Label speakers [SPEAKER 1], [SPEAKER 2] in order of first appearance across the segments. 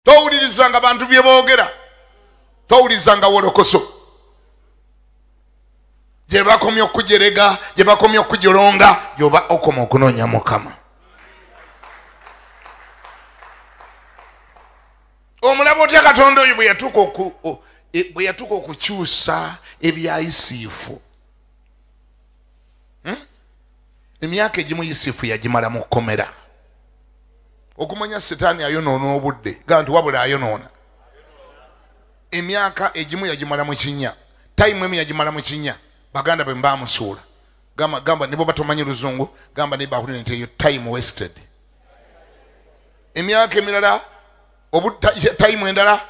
[SPEAKER 1] towulirizanga bantu bye boogera towulirizanga wolokoso gye bakomya okujerega gye bakomya okujolonga gyoba okoma okunoonya mukama omulaba otya katonda oyo bwe yatuuka e, okukyusa ebyayisiifu hmm? emyaka egimu yusufu yagimala mu kkomera okumanya sitaani ayonoona obudde ga nti wabula ayonoona emyaka egimu yagimala mu kinya tayimu emu yagimala mu kinya baganda be mbamusuula gamba, gamba nibo batomanyi luzungu gamba naye bakulira nti eyo time wasted emyaka emirala obutayimu endala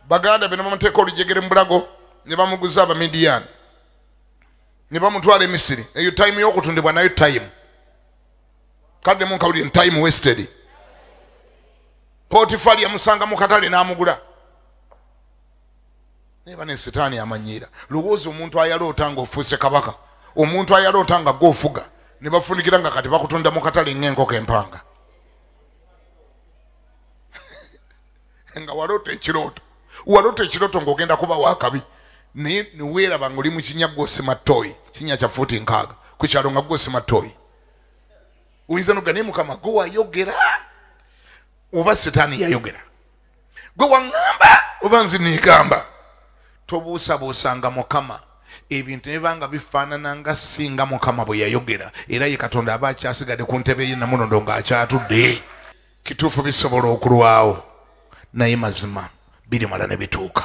[SPEAKER 1] baganda be nebamuteeka olujegere mu bulago ne bamuguza abamidiyaani ne bamutwala emisiri eyo time yokutundibwa nayo time kadde munkawulire ni time wasted potifali yamusanga mu katale n'amugula naye bane sitaani amanyiira lowooza omuntu ayaloota nga ofuuse kabaka omuntu ayaloota nga gwofuga ne bafunikira nga kati bakutunda mu katale ng'enkoko empanga nga walota ekirooto walota ekirooto ngaogenda kuba wakabi naye niweeraba nga oli mukinya gwosima toyi kinya kya fuuti nkaaga ku kyalo nga gwosima toyi oyinza noga naye mukama gwe wayogera oba sitaani yayogera gwe waŋŋamba oba nzi niigamba tobuusabuusanga mukama ebintu nebanga bifaanana nga singa mukama bwe yayogera era ye katonda aba akyasigadde ku ntebe ye namunondo ng'akyatudde kituufu bisobola okulwawo naye mazima birimala ne bituuka